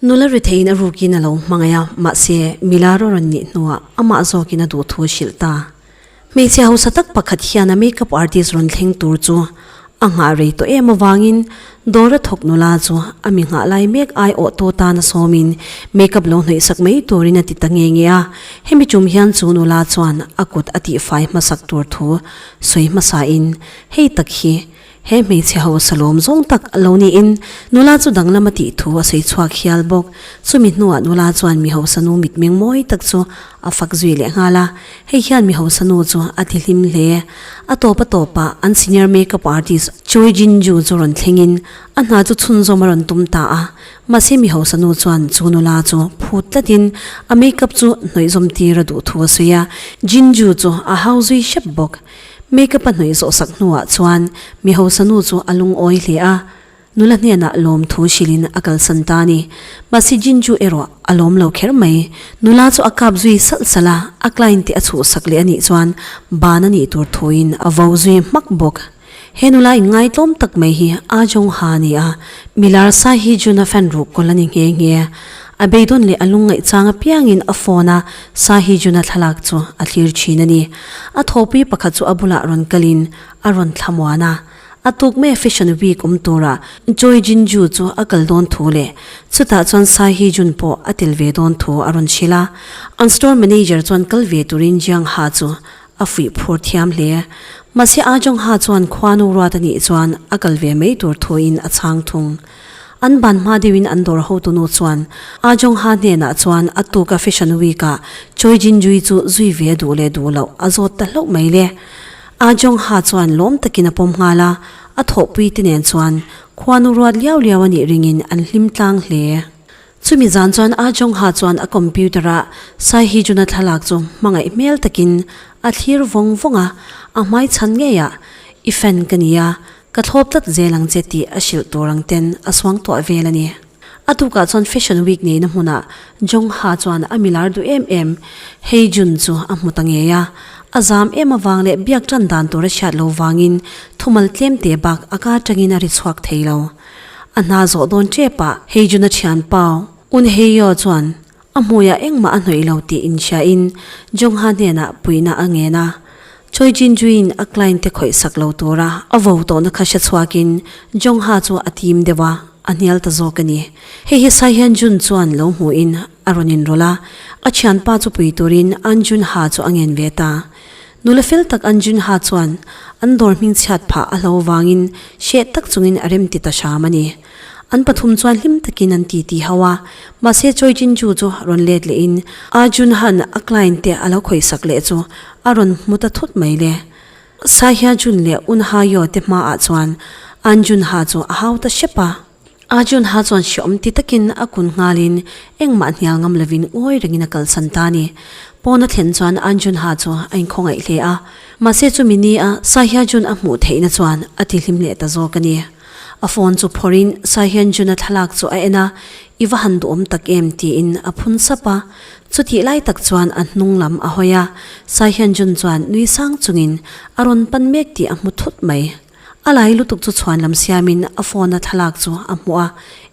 Nula retheihin a rukin a lo hmangaih a, mahse, Mila rawh rawn nih hnuah amah zawkin a duh thu a hrilh ta. Hmeichhia hausa tak pakhat hian a make-up artist rawn thleng tur chu a nghah rei tawh em avangin, Dawra thawknula chu a mi nghah lai mek ai awh tawh tana sawmin makeup lo hnaihsak mai turin a ti ta nge nge a, hemi tum hian chu nula chuan a kut a tihfai hmasak tur thu sawi hmasahin hei tak hi he hmeichhe ho salawm zawng tak lo niin nula chu danglam a tih thu a sawi chhuak hial bawk. Chumi hnuah nula chuan mi hausa nu mitmeng mawi tak chu a fak zui lehnghal a, Hei hian mi hausa nu chu a ti hlim hle. A tawpa tawpa an senior makeup artist Choi Jin-ju chu rawn thlengin a hna chu chhunzawm a rawn tum ta a. Mahse mi hausa nu chuan chu nula chu phut tlatin a makeup chu hnawihzawm tir a duh thu a sawi a. Jin-ju chu a hau zui hrep bawk. Makeup a hnawih zawhsak hnuah chuan mi hausa nu chu a lungawi hle a. Nula hnenah lawmthu silin a kalsan ta a ni. Mahse Jinju erawh a lawm lo kher mai. Nula chu a kap zui salh salh a, a client te a chhuhsak leh a nih chuan ban a nih tur thuin a vo zui hmak bawk. He nula inngaitawm tak mai hi Ah Jong-ha a ni a, Milar Sa Hee Jun a fan ruk kawl a ni nghe nghe. A beidawn leh a lung ngaihchang apiangin a phone a Sa Hee Jun a thlak chu a thlir thin a ni. A thawhpui pakhat chu a bulah rawn kalin a rawn thlamuan a. A tuk mek Fashion Week awm tura Choi Jin-ju chu a kal dawn thu leh chutah chuan Sai Hee-jun pawh a tel ve dawn thu a rawn hrilh a, an store manager chuan kal ve turin Jiang Ha chu a fuih phur thiam hle. Mahse a Jong Ha chuan khuanu ruata nih chuan a kal ve mai tur thuin a chhang thung. An ban hma deuhin an dawr hotunu chuan a Jong Ha hnenah chuan a tuka Fashion Week-a Choi Jin-ju-i chu zui ve duh leh duh loh a zawt ta hlauh mai le. A Jongha chuan lawm takin a pawm nghal a, a thawhpui te nen chuan khuanu ruat liau liau anih ringin an hlim tlang hle. Chumi zan chuan A Jongha chuan a computer ah Sai Hijuna thlalak chu hmangaih hmel takin a thlir vawng vawng a, a hmai chhan ngei ah, I fan ka ni a, ka thlawp tlat zel ang che tih a hrilh tur ang ten a suangtuah vel a ni. A tukah chuan Fashion Week neina hmunah Jung Ha chuan a milar duh em em. Hei June chu a hmu ta ngei a, a zam em avang leh biak tan dan tur a hriat lo vangin thumal tlem te bak a kar tangin a ri chhuak thei lo. A hna zawh dawn che pah Hei June-a thian pau Un Hei Yaw chuan A hmuiah engmah a hnawih lo tih inhriain Jongha hnenah puihna a ngen a. Choi Jin-jui'n a client te khawihsak lo tura a vo tawhna kha hre chhuakin Jongha chu a tim deuh a, a hnial ta zawk a ni. Hei hi sai hian Jun chuan lo hmuhin a rawn inrawlh a, a thianpa chu pui turin An Junha chu a ngen ve ta. Nula fel tak An Junha chuan an dawr hming chhiat phah a hlo vangin hreh tak chungin a remti ta hram a ni. An pathum chuan hlim takin an ti ti hau a, mahse Choi Jin-ju chu a rawn let lehin Arjun han a client te a lo khawihsak leh chu a rawn hmu ta thut mai le. Sai Hya-jun leh Un Ha-yeoh te hmaah chuan An Jun-ha chu a hau ta hrep a. Arjun-ha chuan hreawm ti takin a kun nghalin engmah hnial ngam lovin ngawi rengin a kalsan ta a ni. Pawn a thlen chuan An Jun-ha chu a inkhawngaihleh a, mahse chumi nia Sai Hya-jun a hmuh theihna chuan a tihlim leh ta zawk a ni. A phone chu phawrhin Sai Hyun Jun-a thlalak chu a en a, I va han duhawm tak em? tiin a phun sap a. Chutih lai tak chuan a hnung lam a hawi a, Sai Hyun Jun chuan nui sang chungin a rawn pan mek tih a hmu thut mai. A lai lutuk chu chhuan lam siamin a phone-a thlalak chu a hmu a,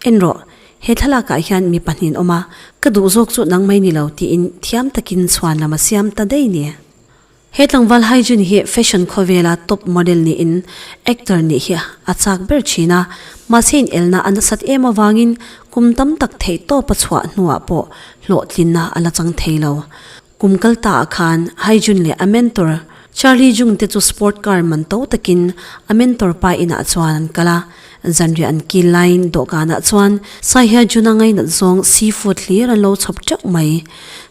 En rawh, he thlalakah hian mi pahnihin awm a, ka duh zawk chu nangmai ni lo tiin thiam takin chhuan lam a siam ta daih ni. He tlangval Haijun hi fashion khawvela top model niin actor nih hi a chak ber thin a, mahse inelna a nasat em avangin kum tam tak theihtawp a chhuah hnuah pawh hlawhtlinna a la chang thei lo. Kum kal taah khan Haijun leh a mentor Charlie Jung te chu sport car man to takin a mentor pa inah chuan an kal a, Zanriah an kil laiin dawhkanah chuan Sai hian Jun-a ngainat zawng seafood hlir an lo chhawp teuh mai.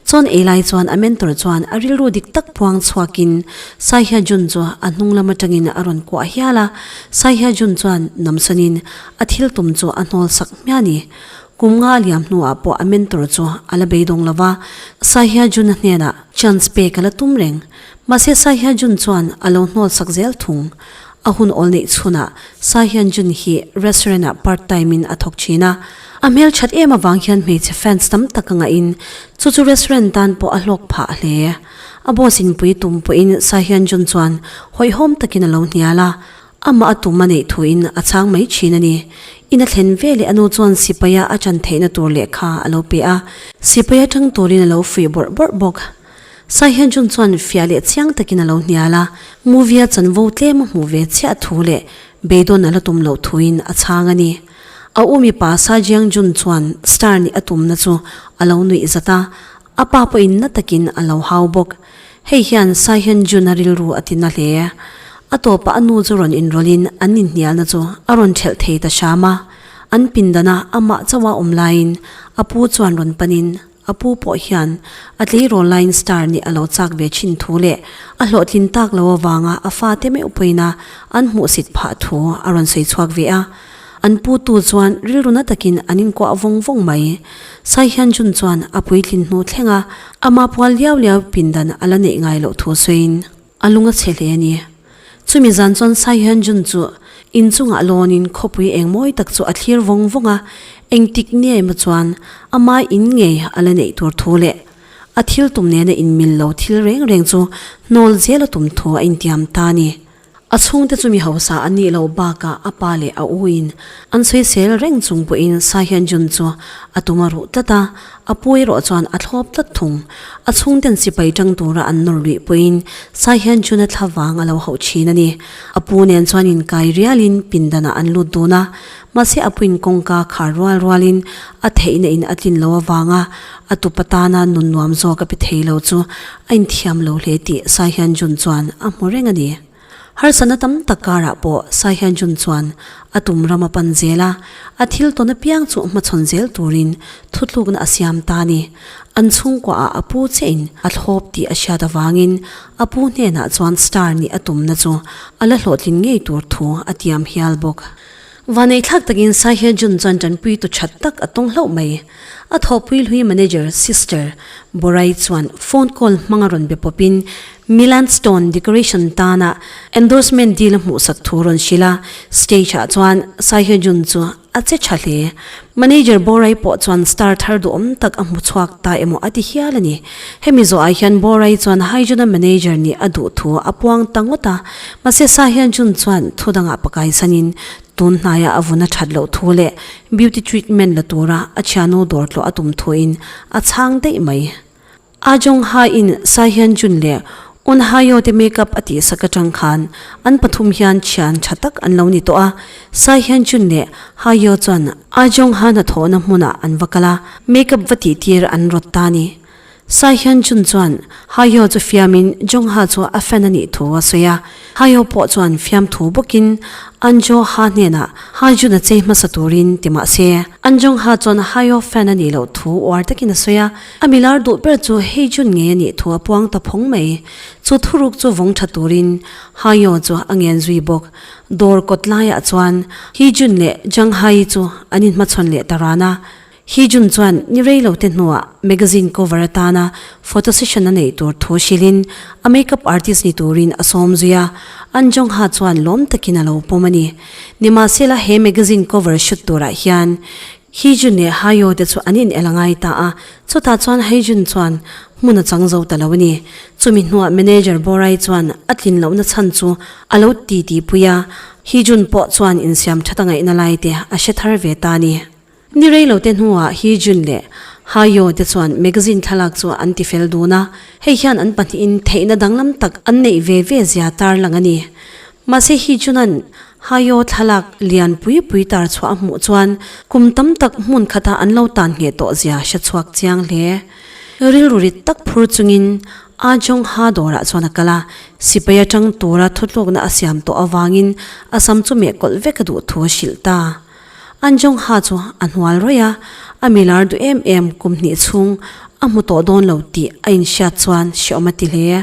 Chuan ei lai chuan a mentor chuan a rilru dik tak puang chhuakin Sai hian Jun chu a hnunglam atangin a rawn kuah hial a. Sai hian Jun chuan namsanin a thil tum chu a hnawl sak hmiah a ni. Kum nga a liam hnuah pawh a mentor chu a la beidawng lo a. Sai hian Jun-a hnenah chance pek a la tum reng. Mahse Sai hian Jun chuan a lo hnawl sak zel thung. A hun awl neih chhunah Sa Hyan Jun hi restaurant-ah part time in a thawk thin a. A hmelthat em avang hian hmeichhe fans tam tak a ngahin chu chu restaurant tan pawh a hlawk phah a hle. A boss inpui tum pawhin Sa Hyan Jun chuan hawihhawm takin a lo hnial a, amah a tum a neih thuin a chang mai thin a ni. In a thlen ve leh a nu chuan sipai-a a chan theihna tur leh kha a lo pe a, sipai atang turin a lo fuih bawrh bawrh bawk. Sai Hyen Jun chuan fiah leh chiang takin a lo hnial a, movie-a chanvo tlem a hmuh ve chiah thu leh beidawn a la tum loh thuin a chhang a ni. A umi pa Sa Jiang Jun chuan star nih a tumna chu a lo nuih zat a, a pa pawh inna takin a lo hau bawk. Hei hian Sa Hyen Jun-a rilru a ti na hle. A tawpah a nu chu rawn inrawlhin an inhnialna chu a rawn ṭhelh thei ta hram a, an pindan a amah chauha awm laiin a pu chuan rawn panin A pu pawh hian a tleirawl laiin star nih a lo chak ve chin thu leh a hlawhtlin tak lo avanga a fate meuh pawina an hmuhsit phah thu a rawn sawi chhuak ve a. An pu tu chuan rilruna takin an inkuah vawng vawng mai. Sai Hyan Jun chuan a puitlin hnu thlenga ama pual liau liau pindan a la neih ngai loh thu sawiin, A lung a chhe hle a ni. Chumi zan chuan Sai Hyun Jun chu in chungah lawn in khawpui eng mawi tak chu a thlir vawng vawng a, engtik nge emaw chuan amai in nge a la neih tur thu leh a thil tum nena in mil lo thil reng reng chu hnawl zel a tum thu a intiam ta a ni. A chhungte chu mi hausa an nih lo bakah a pa leh a u in an sawi sel reng chung pawhin Sai Hyun Jun chu a tum a ruh tlat a, A pu erawh chuan a thlawp tlat thung. A chhungten sipai tang tura an nawr luih pawhin sai hian June-a thla vang a lo hauh thin a ni. A pu nen chuan inkai rialin pindanah an lut dun a, mahse a puin kawngka khar rual rualin a theihna in a tlin lo avanga a tupa tana nun nuam zawk a pe thei lo chu a inthiam lo hle tih sai hian June chuan a hmu reng a ni. Harsatna tam tak karah pawh Sai Hyan Jun chuan a tum ram a pan zel a, a thil tawn apiang chu hmachhawn zel turin thutlukna a siam ta a ni. An chhungkuaha a pu chiahin a thlawp tih a hriat avangin a pu hnenah chuan star nih a tumna chu a la hlawhtlin ngei tur thu a tiam hial bawk. Vaneithlak takin Sai Hye Jun chuan Chanpui tu that tak a tawng hlauh mai. A thawhpui hlui manager sister Borai chuan phone call hmang a rawn be pawpin Milan Stone decoration tana endorsement deal hmuhsak thu rawn hrilh a, stage ah chuan Sai Hye Jun chu a che tha hle. Manager Borai pawh chuan star thar duhawm tak a hmu chhuak ta emaw a ti hial a ni. Hemi zawhah hian Borai chuan Haijuna manager nih a duh thu a puang ta ngawt a, mahse Sahyun Jun chuan thu dangah pakai sanin tun hnaia a vun a that loh thu leh beauty treatment la tura a thianu dawr tlawh a tum thuin a chhang daih mai. A Jong Ha in Sai Hyan Jun leh Ohn Ha Yo te make up a tih sak atang khan an pathum hian thian tha tak an lo ni tawh a, Sai Hyan Jun leh Ha Yo chuan A Jong Ha hnathawhna hmunah an va kal a, make up va tihtir an rawt ta a ni. Sai Hyan Jun chuan Ha Yo chu fiamin Jong Ha chu a fan a nih thu a sawi a, Ha Yo pawh chuan fiam thu bawkin An Jo Ha hnenah Ha Jun a chei hmasa turin ti mah se, An Jong Ha chuan Ha Yo fan a nih loh thu uar takin a sawi a. A milar duh ber chu hei June ngei a nih thu a puang ta phawng mai. Chu thuruk chu vawng tha turin Haiyao chu a ngen zui bawk. Dawr kawt laiah chuan Hi June leh Zhang Hai chu an inhmachhawn leh ta ran a. Hi June chuan ni rei lo te hnuah magazine cover atana photo session a neih tur thu hrilhin a makeup artist ni turin a sawm zui a. An Zhang Ha chuan lawm takin a lo pawm a ni. Nimahsela he magazine cover shoot turah hian Hi Jun leh Ha Yo te chu an inel a ngai ta a, chutah chuan Hei Jun chuan hmun a chang zo ta lo a ni. Chumi hnuah manager Borai chuan a tlin lohna chhan chu a lo ti ti pui a, Hi Jun pawh chuan insiam that a ngaihna lai te a hre thar ve ta a ni. Ni rei lo te hnuah Hi Jun leh Ha Yo te chuan magazine thlalak chu an ti fel dun a, hei hian an pahnihin theihna danglam tak an neih ve ve zia tarlang a ni. Mahse Hi Junan Haiawh thlalak lian pui pui tar chhuah a hmuh chuan kum tam tak hmun khatah an lo tan ngheh tawh zia hre chhuak chiang hle. Rilru rit tak phur chungin a Jongha dawrah chuan a kal a, sipai atang tura thutlukna a siam tawh avangin a sam chu mehkawlh vek a duh thu a hrilh ta. A Jongha chu a hnual ruih a, a milar duh em em kum hnih chhung a hmu tawh dawn lo tih a inhriat chuan hreawm a ti hle.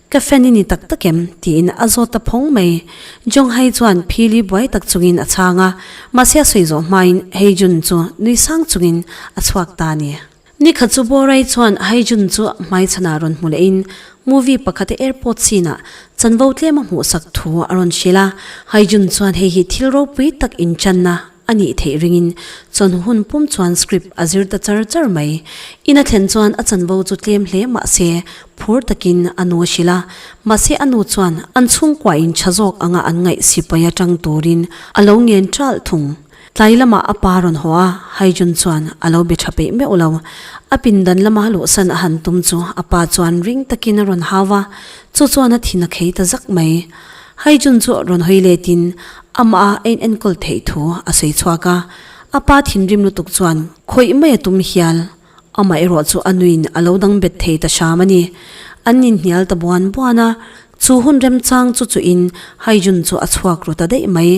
Ka fan i ni tak tak em? tiin a zawt ta phawng mai. Jonghai chuan phil i buai tak chungin a chhang a, mahse a sawi zawh hmain Haijun chu nui sang chungin a chhuak ta a ni. Ni kha chu Borai chuan Haijun chu hmaichhanah rawn hmu lehin movie pakhat a airport sinah chanvo tlem a hmuhsak thu a rawn hrilh a, Haijun chuan hei hi thil ropui tak inchanna a nih theih ringin chawn hun pum chuan script a zir ta char char mai. Ina thlen chuan a chanvo chu tlem hle mahse phur takin a nu a hrilh a, mahse a nu chuan an chhungkua in tha zawk anga an ngaih sipai atang turin a lo ngen ṭalh thung. Tlai lamah a pa rawn haw a, Haijun chuan a lo be ṭha peih meuh lo. A pindan lama luhsan a han tum chu a pa chuan ring takin a rawn hau a, chu chuan a thin a khei ta zak mai. Haijun chu rawn hawi letin Amah a en enkawl theih thu a sawi chhuak a, a pa thinrim lutuk chuan khawih mai a tum hial. Amaherawh chu a nuin a lo dang bet thei ta hram a ni. An inhnial ta buan buan a, chu hun remchang chu chuhin Haijun chu a chhuak ru ta daih mai.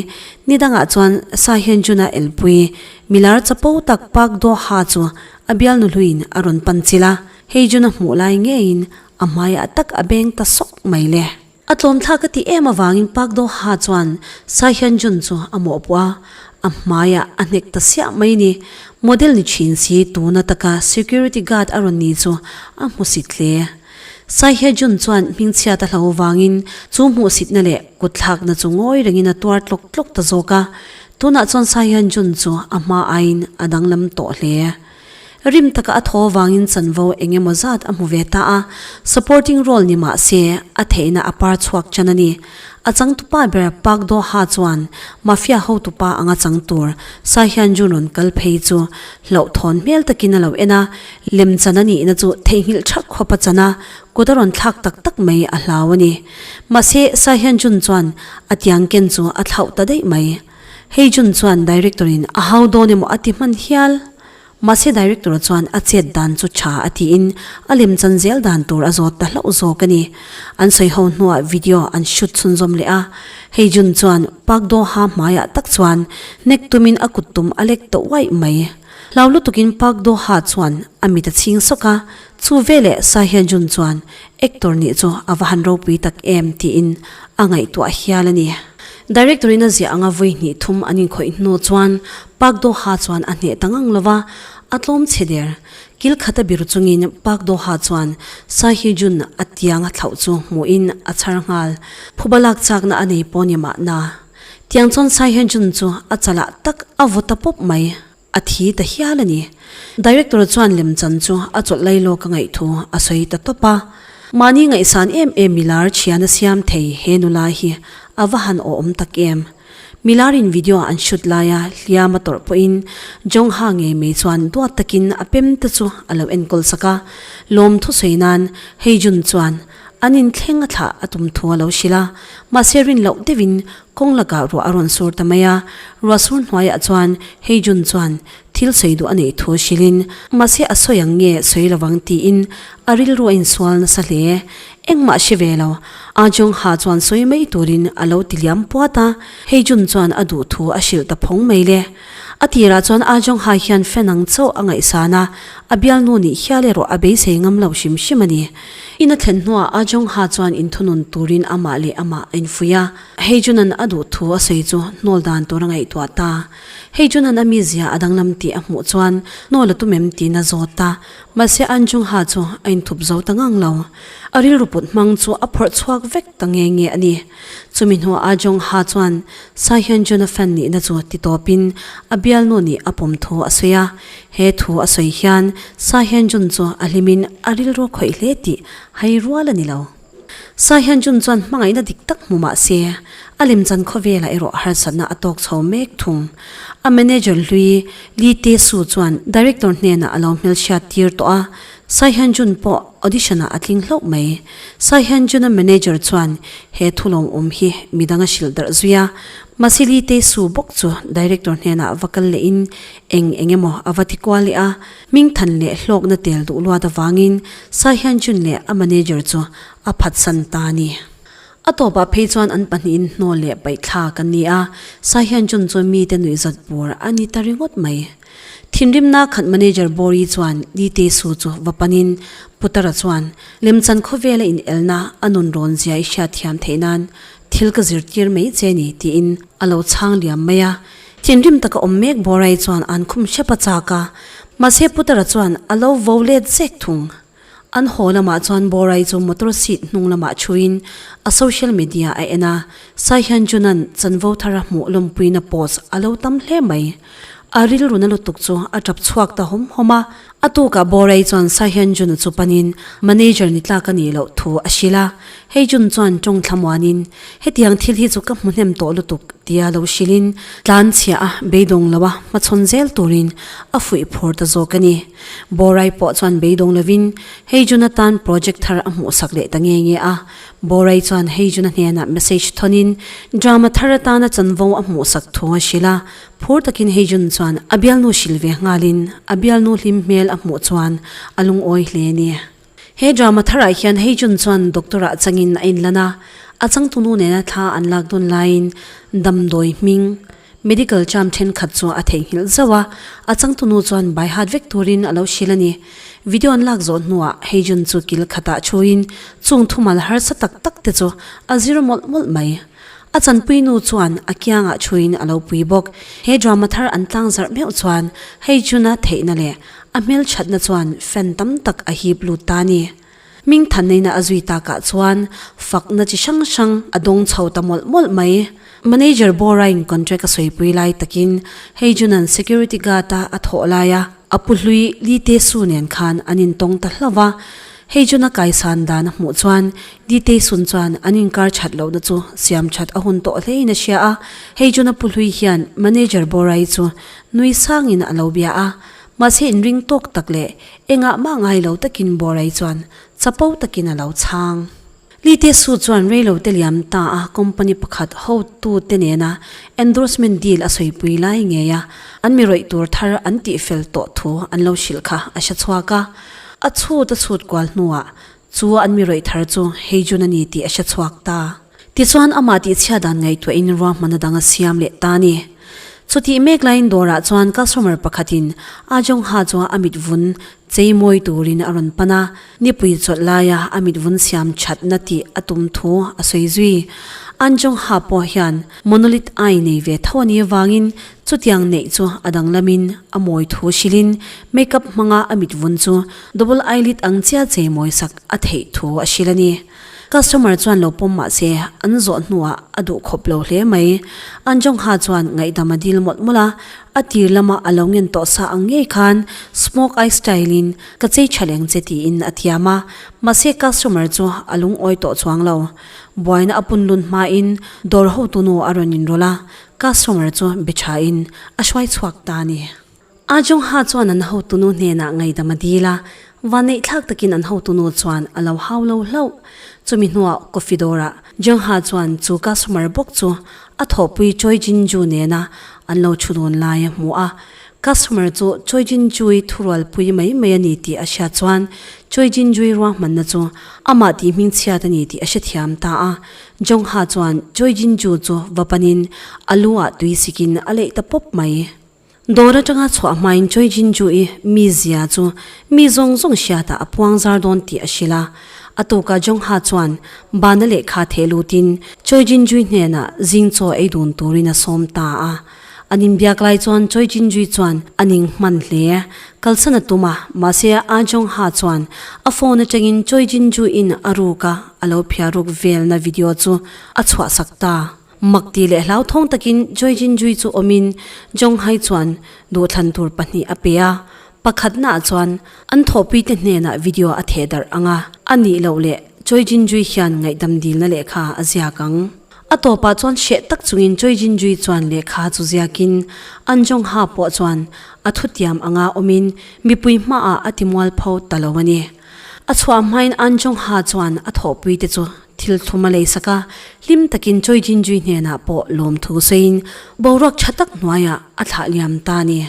Ni dangah chuan Sahyajun a elpui milar chapo tak Pak Doha chu a bialnu hluin a rawn panchilh a, Haijun a hmuh lai ngeiin a hmaiah tak a beng ta sawk mai le. A tlawmthlak a tih em avangin Park Do-ha chuan Sai Hyun-jun chu a mawhpawh a, a hmaia a hnek ta siah mai ni. Model ni thin si tuna taka security guard a rawn ni chu a hmusit hle. Sai Hye-jun chuan hmingchhiat a hlo avangin chu hmuhsitna leh kutthlakna chu ngawi rengin a tuar tlawk tlawk ta zawk a, tunah chuan Sai Hyun-jun chu a hma aiin a danglam tawh hle. Rim taka a thaw vangin chanvo eng emaw zat a hmu ve ta a, supporting role ni mah se, a theihna a par chhuak chan a ni. A changtu pa ber Park Doha chuan mafia hotu pa anga chang tur Sa Hyun Jun rawn kal phei chu hlauh thawn hmel takin a lo en a, lem chan a nihna chu theihnghilh tha khawp a chan a, kut a rawn thlak tak tak mai a hlau a ni. Mahse, Sa Hyun Jun chuan a tiangken chu a thlauh ta daih mai. Hei Jun chuan Director in a hau dawn emaw a ti hman hial. Mahse Director chuan a chet dan chu tha a tiin a lem chan zel dan tur a zawt ta hlauh zawk a ni. An sawi ho hnuah video an shoot chhunzawm leh a. Hei Jun chuan Park Doha hmaiah tak chuan hnek tumin a kut tum a lek tawh uaih mai. Hlau lutukin Park Doha chuan a mit a chhing sawk a, Chu veleh Sai Hyen Jun chuan Actor nih chu a va han ropui tak em tiin a ngaihtuah hial a ni. Director in a ziah anga vawi hnih thum an inkhawih hnu chuan Park Do Ha chuan a hneh ta ngang lova a tlawm chhe der. Kil khat a bir chungin Park Do Ha chuan Sai Hye Jun a tiang a thlauh chu hmuhin a chhar nghal. Phuba lak chakna a nei pawh ni mah na. Tiang chuan Sai Hyen Jun chu a chalah tak a vaw ta pawp mai. A thi ta hial a ni. Director chuan lem chan chu a chawlh lai lawk a ngaih thu a sawi ta tawp a. Mahni ngaihsan em em Milar thian a siam thei he nula hi a va han awhawm tak em. Milar in video an shoot lai a hliam a tawrh pawhin Jongha ngei mai chuan duat takin a pem te chu a lo enkawl sak a. Lawm thusawi nan Heijun chuan An in thleng a thlah a tum thu a lo hrilh a, mahse rin loh deuh in kawng lakah ruah a rawn sur ta mai a, ruah sur hnuai ah chuan hei June chuan thil sawi duh a neih thu hrilh in, mahse a sawi ang nge sawi lo vang ti in a rilru a in sual nasa hle e, engmah hre ve lo, a Jong ha chuan sawi mai tur in a lo ti liam puat a, hei June chuan a duh thu a hrilh ta phawng mai le. A tir ah chuan a Jong ha hian fen ang chauh a ngaihsan a, a bialnu nih hial erawh a beisei ngam lo hrim hrim a ni. Ina thlen hnuah a Jongha chuan inthunun turin amah leh amah a infuih a. Hei Junan a duh thu a sawi chu Hnawl dan tur a ngaihtuah ta. Hei Junan a mizia a danglam tih a hmuh chuan Hnawl a tum em tiin a zawt ta. Mahse an Jongha chu a inthup zo ta ngang lo. A rilru put hmang chu a phawrh chhuak vek. ta nge nge a ni. Chumi hnuah a Jong Ha chuan Sai hian Jonathan nihna chu ti tawpin a bialnu nih a pawm thu a sawi a. He thu a sawi hian Sai hian Jun chu a hlimin a rilru khawih hle tih hai rual a ni lo. Sai hian Jun chuan hmangaihna dik tak hmu mah se, a lemchan khaw velah erawh harsatna a tawk chho mek thung. A manager hlui Lee Tae Soo chuan director hnenah a lo hmelhriat tir tawh a, Sai Hyunjun pawh audition-ah a tling hlauh mai. Sai Hyunjun-a manager chuan he thu lawmawm hi midang a hrilh darh zui a, mahse Lee Tae-soo bawk chu director hnenah va kal lehin eng eng emaw a va ti kual leh a. Hming than leh hlawkna tel duh luat avangin Sai Hyunjun leh a manager chu a phatsan ta a ni. A tawpah phei chuan an pahnihin hnaw leh paihthlak an ni a, Sai Hyunjun chu mite nuih zat bur a ni ta ringawt mai. Thinrimna khat manager Bawri chuan Dite Su chu va panin Putara chuan Lemchan khawvela inelna a nun rawn zia i hriat thiam theih nan thil ka zir tir mai che ni tiin a lo chhang liam mai a. Thinrim taka awm mek Bawrai chuan an khum hrep a chak a, mahse Putara chuan a lo vo let zek thung An haw lamah chuan Borai chu motor seat hnung lamah thuin a social media a en a, Sai Hyun Junan chanvo thar a hmuh lawmpuina post a lo tam hle mai. A rilruna lutuk chu a tap chhuak ta hawm hawm a. A tukah Borai chuan Sai Hyun Jun-a chu panin manager ni tlak a nih loh thu a hrilh a, hei Jun chuan tawng thlamuanin hetiang thil hi chu ka hmu hnem tawh lutuk tia lo hrilhin tlanchhiah a beidawng loa hmachhawn zel turin a fuih phur ta zawk a ni. Borai pawh chuan beidawng lovin hei June-a tan project thar a hmuhsak leh ta nge nge a. Borai chuan hei June-a hnenah message thonin drama thar atana chanvo a hmuhsak thung a hrilh a. Phur takin hei June chuan a bialnu hrilh ve nghalin a bialnu hlim hmel a hmuh chuan a lungawi hle a ni. He drama tharah hian Heijun chuan doctor-ah changin a inlan a, a changtu nu nena thla an lak dawn laiin damdawi hming, medical term thenkhat chu a theihnghilh zauh a, a changtu nu chuan baihat vek turin a lo hrilh a ni. Video an lak zawh hnuah Heijun chu kil khatah thuin chung thumal harsa tak tak te chu a zir mawlh mawlh mai. A chanpui nu chuan a kiangah thuin a lo pui bawk. He drama thar an tlang zarh meuh chuan hei June-a theihna leh a hmelthatna chuan fan tam tak a hip lut ta a ni. Hming than neina a zui takah chuan fakna chi hrang hrang a dawng chho ta mawlh mawlh mai. Manager Bawrain contract a sawipui lai takin hei June-an security guard-a a thawh lai a, a pu hlui Li Te Su nen khan an intawng ta hlauh a. Hei chu na kai san dan a hmuh chuan Di Tei Sun chuan an inkar that loh na chu siam that a hun tawh hlein a hria a, hei chu na pu hlui hian manager Borai chu nui sangin a lo bia a, mahse in ring tawk tak leh engah mah ngai lo takin Borai chuan chapo takin a lo chhang. Lee Tae-soo chuan reilote liam ta a company pakhat hotu te nena endorsement deal a sawipui lai ngei a, an mirawih tur thar an tihfel tawh thu an lo hrilh kha a hre chhuak a. A chhuta chhut kual hnuah chu an mirawih thar chu hei June a ni tih a hre chhuak ta. Tichuan amah tihchhiat dan ngaihtuahin ruahman adang a siam leh ta a ni. Chutih mek laiin dawrah chuan customer pakhatin Ah Jong-ha chuan a mitvun Chei mawi turin a rawn pan a, nipui chawlh laia a mitvun siam that na tih a tum thu a sawi zui. An Jung-ha pawh hian Monolith ai nei ve tho ani avangin chutiang neih chu a danglamin a mawi thu hrilhin makeup hmanga a mitvun chu double eyelid ang chiah chei mawi sak a theih thu a hrilh ani. Customer chuan lo pawm mah se, an zawh hnuah a duh khawp lo hle mai. Anjongha chuan ngaihdam a dil mawlh mawlh a, a tir lama a lo ngen tawh sa ang ngei khan smoke eye style in ka chei tha leng che tiin a thiam a, mahse customer chu a lungawi tawh chuang lo. Buaina a punlun hmain dawr hotunu a rawn inrawlh a, customer chu be thain a hruai chhuak ta a ni. A Jongha chuan an hotunu hnenah ngaidam a dil a, vanneihthlak takin an hotunu chuan a lo hau lo hlauh. Chumi hnuah coffee dawrah Jongha chuan chu customer bawk chu a thawhpui Choi Jinju nena an lo thu dun lai a hmu a. Customer chu Choi Jinju-i thurual pui mai mai a ni tih a hria chuan Choi Jinju-i ruahmanna chu amah tihming chhiat a ni tih a hrethiam ta a. Jongha chuan Choi Jinju chu va panin a lu ah tui sikin a leih ta pawp mai. Dawr atanga chhuah hmain Choi Jin-ju i mi zia chu mi zawng zawng hriatah a puang zar dawn tih a hrilh a. A tuka Jong-ha chuan bana lehkha theh lutin Choi Jin-jui hnenah zing chaw ei dun turin a sawm ta a. An inbiak lai chuan Choi Jin-jui chuan a ning hman hle, kalsan a tum a, mahse a Jong-ha chuan a phone atangin Choi Jin-ju in a ruk a, a lo phiah ruk velna video chu a chhuahsak ta. Mak ti leh hlauthawng takin Choi Jin-jui chu awmin Jong-hai chuan duhthlan tur pahnih a pe a. Pakhatnaah chuan an thawhpuite hnenah video a theh darh ang a, a nih loh leh Choi Jin-jui hian ngaihdam dilna lehkha a ziak ang. A tawpah chuan hreh tak chungin Choi Jin-jui chuan lehkha chu ziakin an Jong-ha pawh chuan a thu tiam anga awmin mipui hmaah a timual pho ta lo a ni. A chhuah hmain an Jong-ha chuan a thawhpuite chu Thil thlum a lei sak a, hlim takin Choi Jin-jui hnenah pawh lawmthu sawiin boruak tha tak hnuaiah a thlah liam ta a ni.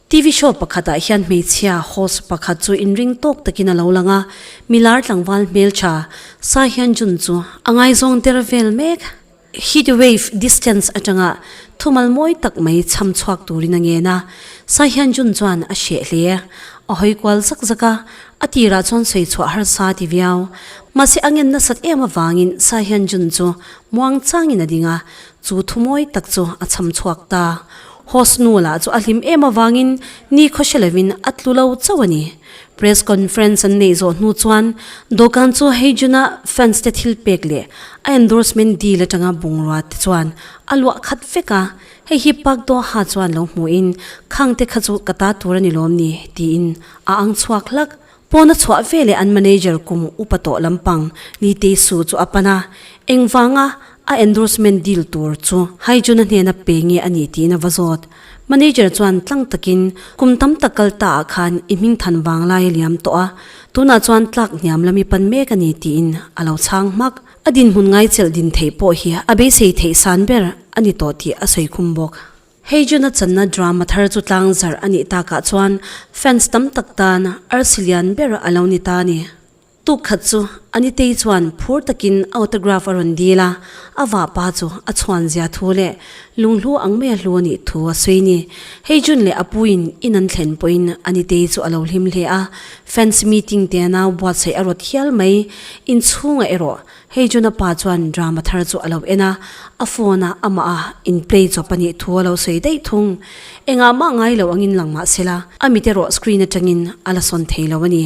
TV show pakhatah hian hmeichhia host pakhat chu inring tawk takin a lo lang a, Milar tlangval hmeltha Sa Hyun-jun chu a ngaizawng der vel mek. Heat wave distance atanga thumal mawi tak mai chham chhuak turin a ngen a, Sai Hyun Jun chuan a hreh hle, a hawi kual zak zak a, a tirah chuan sawi chhuah harsa a ti viau. Mahse a ngen nasat em avangin Sai Hyun Jun chu muang changin a ding a, chu thu mawi tak chu a chham chhuak ta. Host Nuala chu a hlim em avangin ni khaw hre lovin a tlu lo chauh a ni. Press conference an neih zawh hnu chuan dawhkan chu hei June-a fans-te thil pek leh a endorsement deal atanga bungrua te chuan a luah khat vek a, hei hi Park Doha chuan lo hmuhin khangte kha chu ka ta tur a ni lawm ni tiin a ang chhuak hlak. Pawn a chhuah veleh an manager kum upa tawh lampang Lee Tae-soo chu a pan a, engvanga A endorsement deal tur chu Haijun-a hnena pe nge a ni tiin a va zawt. Manager chuan tlang takin, Kum tam tak kal ta ah khan i hming than vang lai a liam tawh a, tunah chuan tlak hniam lam i pan mek a ni tiin a lo chhang hmak. A dinhmun ngaichelh din theih pawh hi a beisei theih san ber a ni tawh tih a sawi khum bawk. Haijun-a channa drama thar chu tlang zarh a nih takah chuan fans tam tak tan arsi lian ber a lo ni ta a ni. Tuk khat chu a ni tei chuan phur takin autograph a rawn dil a, a vapa chu a chhuanzia thu leh lunghlu ang mai a hlu a nih thu a sawi ni. Hei June leh a puin in an thlen pawhin a ni tei chu a lo hlim hle a, fans meeting te a nau buatsaih a rawt hial mai. Inchhungah erawh Hei June a pa chuan drama thar chu a lo en a, a phone a amah a in play chawp a nih thu a lo sawi daih thung. Engah mah ngai lo angin lang mahsela, a mit erawh screen atangin a la sawn thei lo a ni.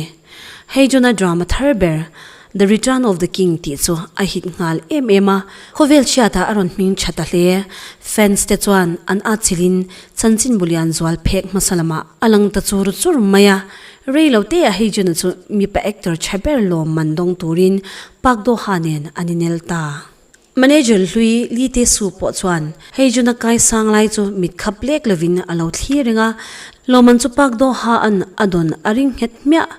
Hei Jonah drama thar ber, The Return of the King tih chu a hit nghal em em a, khawvel hriatah a rawn hming tha ta hle. Fans te chuan an a chilh in chanchin bulian zual phek hmasa lamah a lang ta chur chur mai a, rei lo te a hei Jonah chu mipa actor tha ber lawm man dawng turin Park Do-ha nen an i nel ta. Manager Hlui Li Te Su pawh chuan hei June-a kai sang lai chu mit khap lek lovin a lo thlir reng a, Lawman chu Park Do Ha-a'n a dawn a ring nghet hmiah.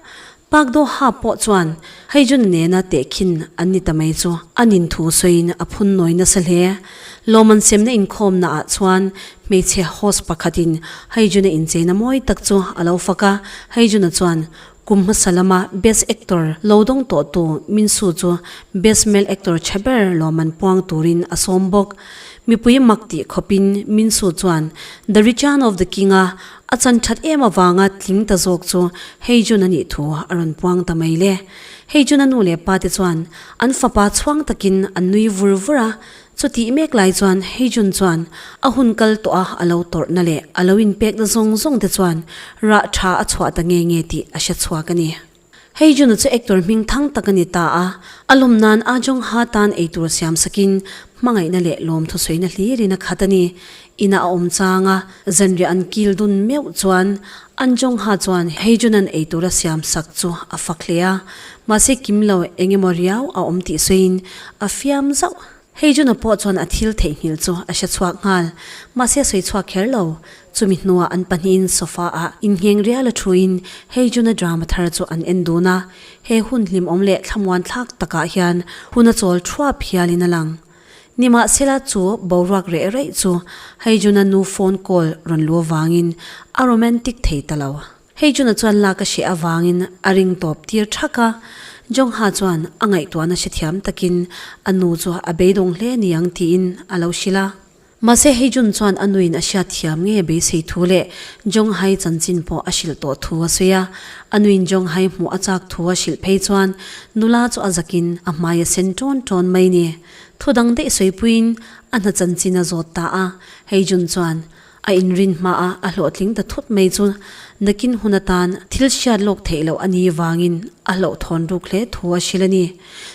Park Do Ha pawh chuan hei June-a nena teh khin an ni ta mai chu a nin thu sawiin a phun nawi nasa hle. Lawman semna inkhawmna ah chuan hmeichhe host pakhatin hei June-a incheina mawi tak chu a lo fak a, hei June-a chuan Kum hmasa lama Best Actor lo dawng tawh tu Min Soo chu Best Male Actor tha ber lawm an puang turin a sawm bawk. Mipui mak tih khawpin Min Soo chuan The Return of the King-a a chan that em avanga tling ta zawk chu Hei Jun a nih thu a rawn puang ta mai le. Hei Jun-a nu leh pate chuan an fapa chhuang takin an nui vur vur a, Chu tih mek lai chuan hei June chuan a hun kal tawh a, a lo tawrhna leh a lo inpekna zawng zawng te chuan rah tha a chhuah ta nge nge tih a hre chhuak a ni. Hei June-a chu actor hming thang tak a ni ta a, a lawm nan Ahjongha tan eitur siam sakin hmangaihna leh lawmthu sawi na hlir in a khat a ni. Inah a awm chang a, zanriah an kil dun meuh chuan Anjongha chuan hei Junan ei tura siam sak chu a fak hle a, mahse kim lo eng emaw riau a awm tih sawiin a fiam zauh. Hei Juna pawh chuan a thil theihnghilh chu a hre chhuak nghal, mahse sawi chhuak kher lo. Chumi hnuah an pahnihin sofa ah inheng riala thuin hei Juna drama thar chu an en dun a, he hun hlimawm leh thlamuan thlak takah hian hun a chawl thuap hialin a lang. Nimahsela chu boruak reh reh chu hei Juna nu phone call rawn lu avangin a romantic thei ta lo. Hei Juna chuan lak a hreh avangin a ring tawp tir thak a. Jongha chuan a ngaihtuahna hrethiam takin a nu chu a beidawng hle a ni ang tiin a lo hrilh a. Mahse hei June chuan a nuin a hriat thiam nge beisei thu leh Jonghai chanchin pawh a hrilh tawh thu a sawi a, a nuin Jonghai hmuh a chak thu a hrilh phei chuan nula chu a zakin a hmai a sen tawn tawn mai ni. Thu dang daih sawipuiin a hna chanchin a zawt ta a, hei June chuan a inrin hma a a hlawhtling ta thut mai chu nakin hun atan thil hriat lawk theih loh a ni vangin a hlawhthawn ruk hle thu a hrilh a ni.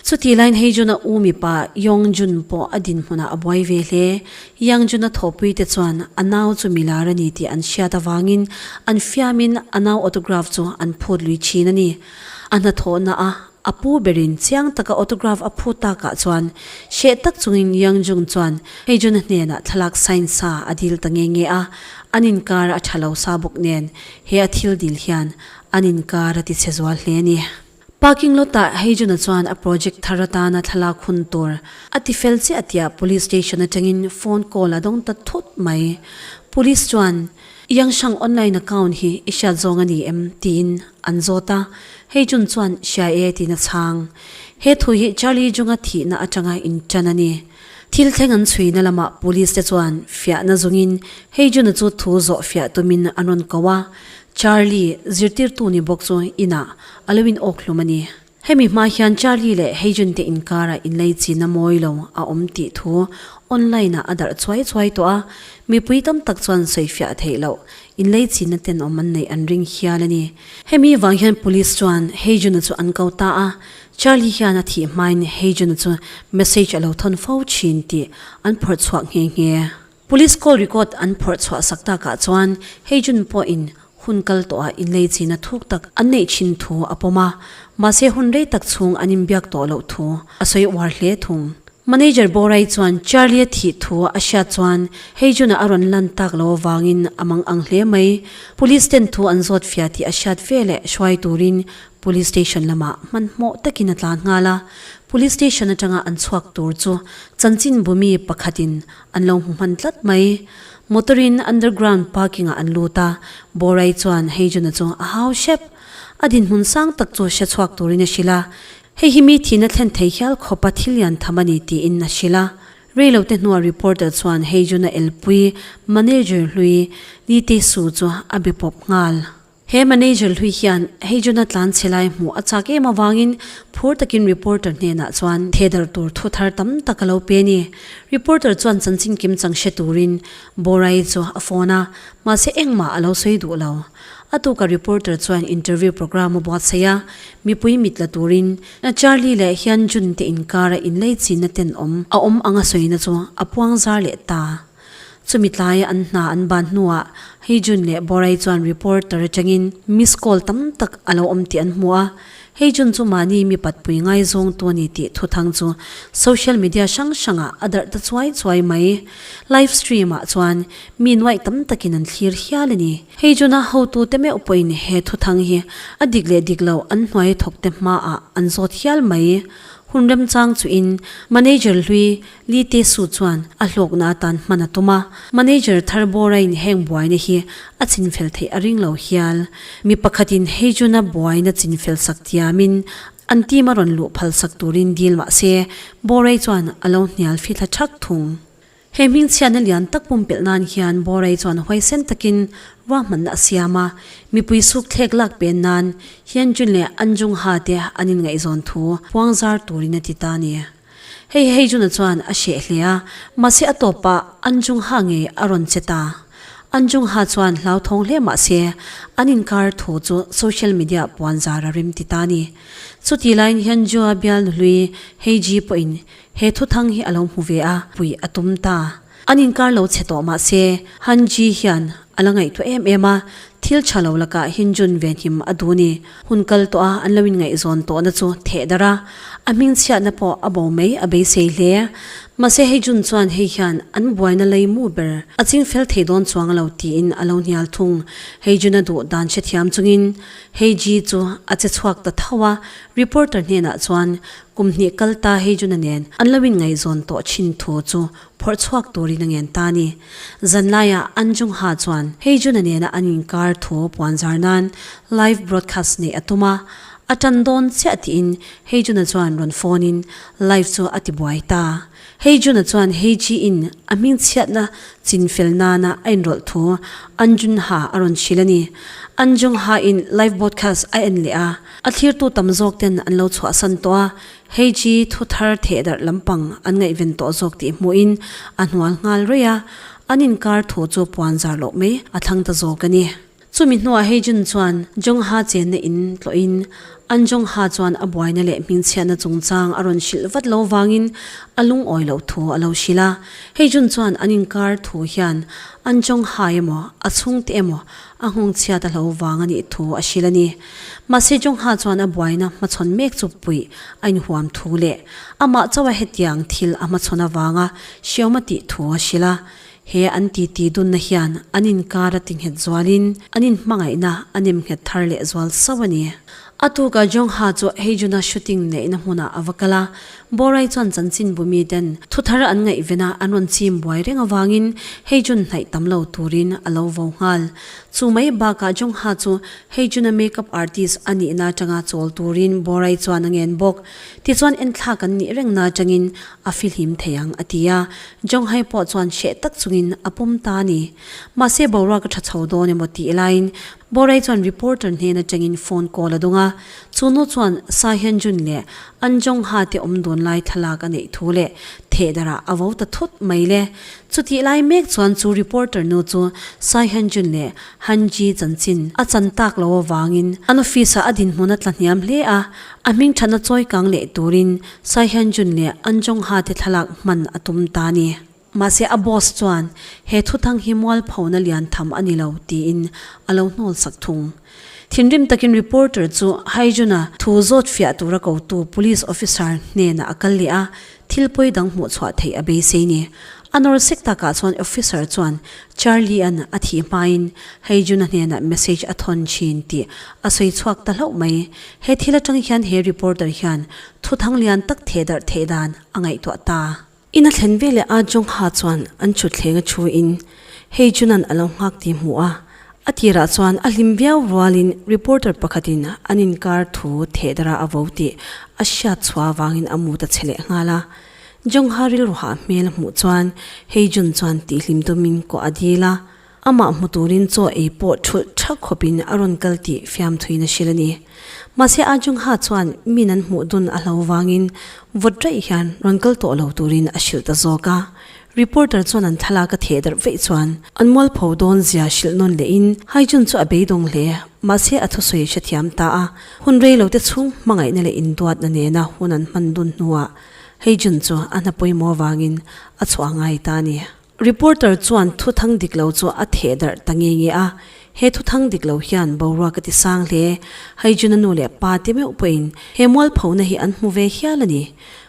Chuti lain hei Jun-a u mipa Yongjun pawh a dinhmunah a buai ve hle. Yongjun-a thawhpuite chuan a nau chu milar a ni tih an hriat avangin an fiamin a nau autograph chu an phut lui thin a ni. A hnathawhna a a pu berin chiang taka autograph a phut takah chuan hreh tak chungin Yongjun chuan hei Jun-a hnenah thlalak sign sa a dil ta nge nge a, an inkar a tha lo sa bawk nen he a thil dil hian an inkar a ti chhe zual hle a ni. Parking lot ah Heijuna chuan a project thar atana thlalak hun tur a ti fel chiah tiah Police station atangin phone call a dawng ta thut mai. Police chuan, Iangshang online account hi i hriat zawng a ni em? tiin an zawt a, Heijun chuan hria e tiin a chhang. He thu hi Charlie Junga thihna atanga intan a ni. Thil thleng an chhuina lamah Police te chuan fiahna zungin Heijuna chu thu zawh fiah tumin an rawn ko a, Charlie, zirtirtu ni bawk chu inah A lo in awk hlum a ni. Hemi hma hian Charlie leh Heijun-te inkarah inlei chinna mawi lo a awm tih thu online-ah a darh chuai chuai tawh a. Mipui tam tak chuan sawifiah theih loh inlei chinna ten awm an neih an ring hial a ni. Hemi vang hian Police chuan Heijun-a chu an ko ta a, Charlie hian a thih hmain Heijun-a chu message a lo thawn fo thin tih an phawrh chhuak nghe nghe. Police call record an phawrh chhuah sak takah chuan hei June pawhin hun kal tawha inlei chihna thuk tak an neih thin thu a pawm a, mahse hun rei tak chhung an inbiak tawh loh thu a sawi uar hle thung. Manager Bawrai chuan Charlie a thih thu a hriat chuan hei June-a a rawn lan tak lo avangin a mang ang hle mai. Police ten thu an zawt fiah tih a hriat veleh hruai turin Police station lamah hmanhmawh takin a tla nghal a, Police station atanga an chhuak tur chu chanchinbu mi pakhatin An lo hmu hman tlat mai. Motor in underground parking ah an lut a, Borai chuan hei Juna chu a hau hrep. A dinhmun sang tak chu hre chhuak turin a hrilh a, Hei hi mi thihna thlen thei hial khawpa thil lian tham a ni tiin a hrilh a. Reilote hnuah reporter chuan hei Juna elpui, manager hlui, Nitei Su chu a be pawp nghal. He manager hlui hian hei Juna tlanchhe lai hmuh a chak em avangin phur takin reporter hnenah chuan thehdarh tur thu thar tam tak a lo pe a ni. Reporter chuan chanchin kim chang hre turin Borai chu a phone a, mahse engmah a lo sawi duh lo. A tukah reporter chuan interview programme a buatsaih a, mipui mit la turin Charlie leh hian June te inkara inlei chinna ten awm a awm anga sawina chu a puang zar leh ta. Chumi tlaia an hna an ban hnuah Heijun leh Borai chuan reporter atangin miss call tam tak a lo awm tih an hmu a. Heijun chu mahni mi patpui ngaizawngtu a ni tih thuthang chu social media hrang hrangah a darh ta chuai chuai mai. Live stream ah chuan mi nuaih tam takin an thlir hial a ni. Heijuna hotute meuh pawhin he thuthang hi a dik leh dik lo an hnuai thawkte hmaah an zawt hial mai. Hun remchang chuhin manager hlui, Lite Su chuan a hlawkna atan hman a tum a, manager Thar Borain heng buaina hi a chinfel theih a ring lo hial. Mi pakhatin hei June-a buaina chinfel sak tiamin an team-a rawn luh phal sak turin deal mah se, Borai chuan a lo hnial fi thla thak thung. He hmingchhiatna lian tak pumpelh nan hian Borai chuan huaisen takin ruahmanna a siam a, mipui sukthlek lak pen nan Hyunjun leh Anjung-ha te an inngaihzawn thu puangzar turin a ti ta a ni. Hei hei Jun-a chuan a hreh hle a, mahse a tawp pah an Jung-ha ngei a rawn che ta. An Jung-ha chuan hlauthawng hle mahse an inkar thu chu social media-ah puanzar a rim ti ta a ni. Chutih laiin hian Ju-a bialnu hlui Hei Ji pawhin he thuthang hi a lo hmu ve a, pui a tum ta. An inkar lo chhe tawh mah se, Han Ji hian a la ngaihtuah em em a, thil tha lo lakah Hin Jun ve hnim a dun i, hun kal tawh a, an lo inngaihzawn tawhna chu theh darh a, a hmingchhiatna pawh a bo mai a beisei hle. Mahse hei Jun chuan hei hian an buaina lei mu ber a ching fel thei dawn chuang a lo tiin a lo hnial thung. Hei Jun-a duh dan hrethiam chungin Hei Ji chu a che chhuak ta tho a, reporter hnenah chuan Kum hnih kal ta hi June-a nen an lo inngaihzawn tawh thin thu chu phawrh chhuak turin a ngen ta a ni. Zanlaia Anjungha chuan hei June-a nena an inkar thu puanzar nan live broadcast neih a tum a, a tan dawn chiah tiin hei June-a chuan rawn phone-in live chu a tibuai ta. Hei Jun-a chuan Hei Ji-in a hming chhiatna chin fel nana a inrawlh thu An Jun-ha a rawn hrilh a ni. An Jung-hain live broadcast a en leh a, a thlirtu tam zawk ten an lo chhuahsan tawh a, Hei Ji thu thar theh darh lampang an ngaihven tawh zawk tih hmuhin a hnual nghal ruih a, an inkar thu chu puan zar loh mai a thlang ta zawk a ni. Chumi hnuah hei June chuan Jongha chenna in tlawhin an Jongha chuan a buaina leh hmingchhiatna chungchang a rawn hrilh vat lo vangin a lungawi loh thu a lo hrilh a. Hei June chuan an inkar thu hian an Jongha emaw, a chhungte emaw a nghawngchhiat a hlo vang a nih thu a hrilh a ni. Mahse Jongha chuan a buaina hmachhawn mek chu puih a inhuam thu leh amah chauha hetiang thil a hmachhawn avanga hriauma tih thu a hrilh a. He an titi dunna hian an inkar a ti nghet zualin an inhmangaihna a nem nghet thar leh zual sauh a ni. A tukah Jongha chu hei June-a shooting neihna hmunah a va kal a, Borai chuan chanchinbu miten thu thar an ngaihvena an rawn chim buai reng avangin hei June hnaih tam lo turin a lo vo nghal. Chu mai bakah Jongha chu hei June-a make-up artist a nihna atanga chawl turin Borai chuan a ngen bawk. Tichuan enthlak kan nih reng na atangin a fihlim thei ang, a ti a. Zhonghai pawh chuan hreh tak chungin a pawm ta a ni. Mahse boruak a tha chho dawn emaw tih laiin Bawrei chuan reporter hnen atangin phone call a dawng a. Chu nu chuan Sa Hyunjun leh an Zhongha te awm dun lai thlalak a neih thu leh theh darah a vo ta thut mai le. Chutih lai mek chuan chu reporter nu chu Sa Hyunjun leh Han Ji chanchin a chan tak lo avangin an office-ah a dinhmun a tla hniam hle a, A hming thatna chawikang leh turin Tsai Hyun-jun leh An Jong-ha-te thlalak hman a tum ta ni. Mahse a boss chuan he thuthang hi mualphona lian tham a ni lo tiin a lo hnawlsak thung. Thinrim takin reporter chu Hyjun-a thu zawt fiah tura kotu police officer hnenah a kal leh a, Thil pawi dang hmuh chhuah theih a beisei ni. A nawlsek takah chuan officer chuan Charlie-a'n a thih hmain hei June-a hnenah message a thawn thin tih a sawi chhuak ta hlauh mai. He thil atang hian he reporter hian thuthang lian tak theh darh theih dan a ngaihtuah ta. Ina thlen veleh a Jongha chuan an thutthleng a thu in Hei chunan a lo nghak tih hmuh a, a tirah chuan a hlim viau rualin reporter pakhatin an inkar thu thehdara a vo tih a hriat chhuah avangin a mu ta chhe leh nghal a. Jongha rilru hah hmel hmuh chuan Hei Jun chuan tihhlim tumin kuah a dil a, amah hmu turin chaw ei pawh thulh tha khawpin a rawn kal tih fiamthuin a hrilh a ni. Mahse a Jongha chuan min an hmuh dun a hlo vangin vawt raih hian rawn kal tawh lo turin a hrilh ta zawk a. Reporter chuan an thlalak a theh darh veih chuan an mualpho dawn zia hrilh nawn leh in Haijun chu a beidawng hle, mahse a thusawi a hre thiam ta a, hun reilo te chhung hmangaihna leh induatna nena hun an hman dun hnuah Haijun chu a hna pawimawh avangin a chhuah a ngai ta a ni. Reporter chuan thu thang dik lo chu a theh darh ta nge nge a, he thu thang dik lo hian boruak a ti sang hle, Haijun a nu leh pa te meuh pawhin he mualphona hi an hmu ve hial a ni,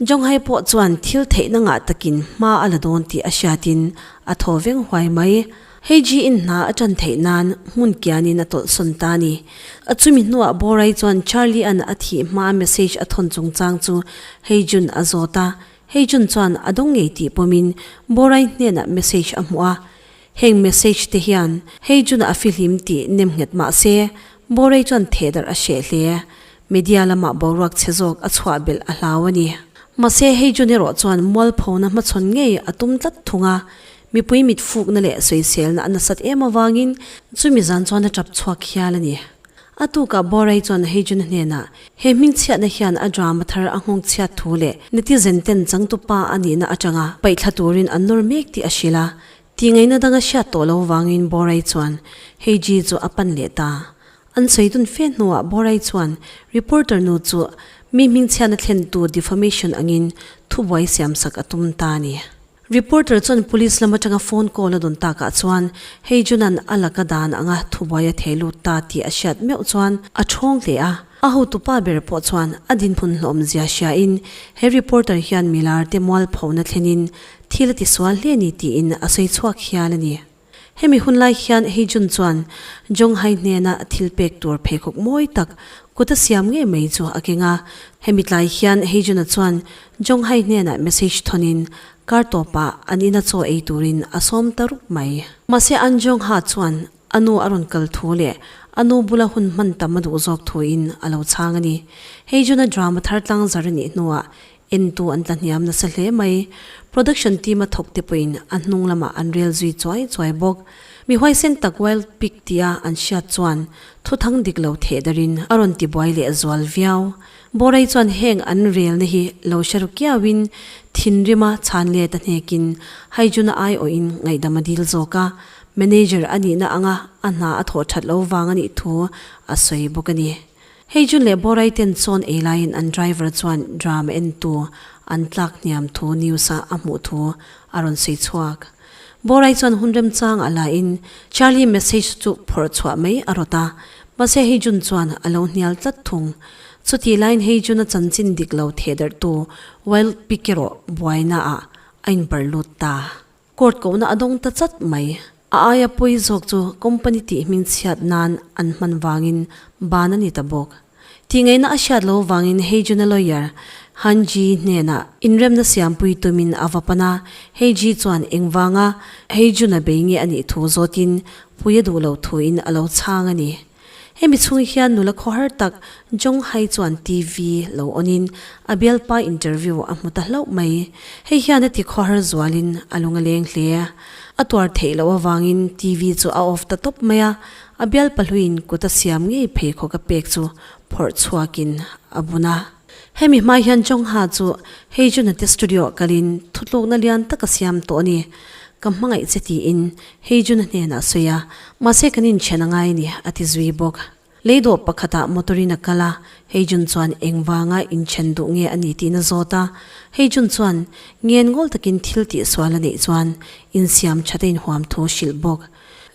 Jonghai pawh chuan thil theihna ngah takin hma a la dawn tih a hriatin a thaw veng huai mai. Hei Ji in hna a tan theih nan hmun kianin a tawlh sawn ta a ni. A chumi hnuah Borai chuan Charlie-a'n a thih hmaa message a thawn chungchang chu Hei Jun a zawt a. Hei Jun chuan a dawng ngei tih pawmin Borai hnenah message a hmuh a. Heng message te hian hei June-a a fihlim tih nem nghet mah se, Bawrei chuan thehdarh a hreh hle. Media lamah boruak chhe zawk a chhuah belh a hlau a ni. Mahse, hei June erawh chuan mualphona hmachhawn ngei a tum tlat thung a, mipui mitfukna leh sawiselna a nasat em avangin chumi zan chuan a tap chhuak hial a ni. A tukah Bawrei chuan hei June hnenah he hmingchhiatna hian a drama thar a nghawngchhiat thu leh netizen-ten changtupa a nihna atanga paihthla turin a nawr mek tih a hrilh a, Tih ngaihna dang a hriat tawh lo vangin Bawrei chuan hei Ji chu a pan leh ta. An sawi dun fe hnuah Bawrei chuan reporter nu chu mi hmingchhiatna thlentu defamation angin thubuai siam sak a tum ta a ni. Reporter chuan police lam atanga phone call a dun takah chuan hei Junan a laka dan anga thubuai a thei lut ta tih a hriat meuh chuan a thawng hle a. A hotu pa ber pawh chuan a dinhmun hlawmzia hriain he reporter hian milar te mualphona thlenin Thil a tisual hle ni tiin a sawi chhuak hial a ni. Hemi hun lai hian hei June chuan Jong Hai hnena thil pek tur pheikhawk mawi tak kut a siam ngei mai chu a keng a. Hemi tlai hian hei June-a chuan Jong Hai hnena message thonin kar tawpah an ina chaw ei turin a sawm ta rup mai. Mahse an Jong Ha chuan a nu a rawn kal thu leh a nu bula hun hman tam a duh zawk thuin a lo chhang a ni. Hei June-a drama thar tlang zar a nih hnuah Entu an tlahniam nasa hle mai. Production team-a thawkte pawhin a hnung lamah an rel zui chuai chuai bawk. Mi huaisen tak wild pig tia an hriat chuan thuthang dik lo theh darin a rawn ti buai leh zual viau. Bawrei chuan heng an relna hi lo hre ru kiauin thinrima chhanlet a hnekin Haijuna aiawhin ngaihdam a dil zawk a. Manager a nihna anga a hna a thawh that lo vang a nih thu a sawi bawk a ni. Hei Jun leh Borai ten sawn ei laiin an driver chuan drum en tu an tlak hniam thu news ah a hmuh thu a rawn sawi chhuak. Borai chuan hun remchang a laiin Charlie message chu phawrh chhuah mai a rawt a, mahse hei Jun chuan a lo hnial tlat thung. Chutih laiin hei Jun a chanchin dik lo thehdarhtu wild pick erawh buaina ah a inparh lut ta. Court kohna a dawng ta chat mai. A aia pawi zawk chu company tih hming chhiat nan an hman vangin ban a ni ta bawk. Tihngeihna a hriat lo vangin hei junior lawyer Han Ji hnenah inremna siampui tumin a va pan a, hei Ji chuan engvanga hei jun-a bei nge a nih thu zawtin pui a duh loh thuin a lo chhang a ni. Hemi chhunga hian nula khawhar tak Jong Hai chuan TV lo onin a bialpa interview a hmu ta hlauh mai. Hei hian a ti khawhar zualin a lung a leng hle. A tuar theih loh avangin TV chu a off ta tawp mai a, a bialpa hluin kut a siam ngei phei khawka pek chu phawrh chhuakin a bun a. Hemi hma hian Chawngha chu hei Junate Studio kalin thutlukna lian tak a siam tawh a ni. Ka hmangaih che tiin hei Juna hnenah a sawi a, mahse kan inthian a ngai a ni, a ti zui bawk. Lei dawh pakhatah motor in a kal a, hei Jun chuan engvanga inthian duh nge a nih tiin a zawt a. Hei Jun chuan ngen ngawl takin thil tihsual a neih chuan insiam that a inhuam thu a hrilh bawk.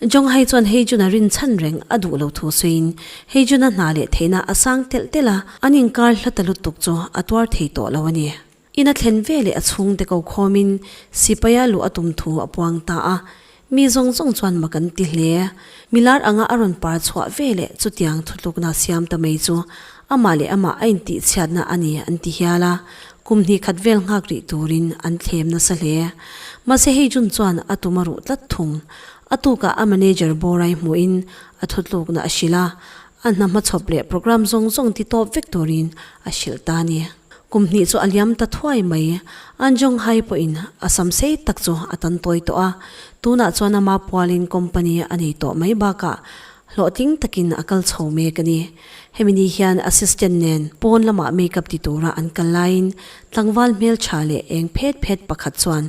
Jonghai chuan Heijuna rin chhan reng a duh lo thu sawiin Heijuna hna leh theihna a sang telh telh a, an inkar hla ta lutuk chu a tuar thei tawh lo a ni. In a thlen ve leh a chhung te ko khawmin sipai a luh a tum thu a puang ta a, mi zawng zawng chuan mak an ti hle. Milar anga a rawn par chhuah ve leh chutiang thutlukna siam ta mai chu amah leh amah a intihchhiatna a ni an ti hial a, Kum hnikkhat vel nghak rih turin an thlem nasa hle. Mahse hei June chuan a tum a ruh tlat thung. A tukah a manager Bawrai hmuhin a thutlukna a hrilh a, a hna hma chhawp leh programme zawng zawng titawp vek turin a hrilh ta a ni. Kum hnih chu a liam ta thuai mai. An Zhonghai pawhin a sam sei tak chu a tan tawi tawh a, tunah chuan a ma pualin company a nei tawh mai bakah Hlawhtling takin a kal chho mek a ni. Hemi ni hian assistant nen pawn lamah makeup ti tura an kal laiin tlangval hmeltha leh eng phet phet pakhat chuan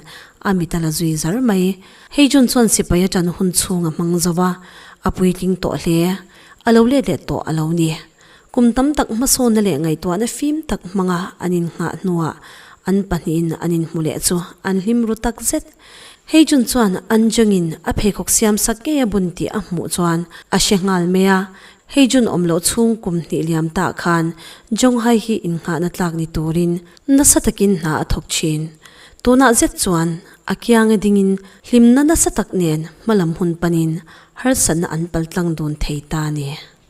a mit a la zui zar mai. Hei June chuan sipai aṭan hun chhung a hmang zo a, a puitling tawh hle. A lo let let tawh a lo ni. Kum tam tak hmasawna leh ngaihtuahna fim tak hmanga an innghah hnuah an pahnihin an inhmu leh chu an hlim ru tak zet. Hei June chuan Anjengin a pheikhawk siam sak ngei a bun tih a hmuh chuan a hre nghal mai a, hei June awm loh chhung kum hnih liam tah khan Zhonghai hi innghahna tlak ni turin nasa takin hna a thawk thin. Tunah zet chuan a kiange dingin hlimna nasa tak nen hmalam hun panin harsatna an paltlang dun thei ta a ni.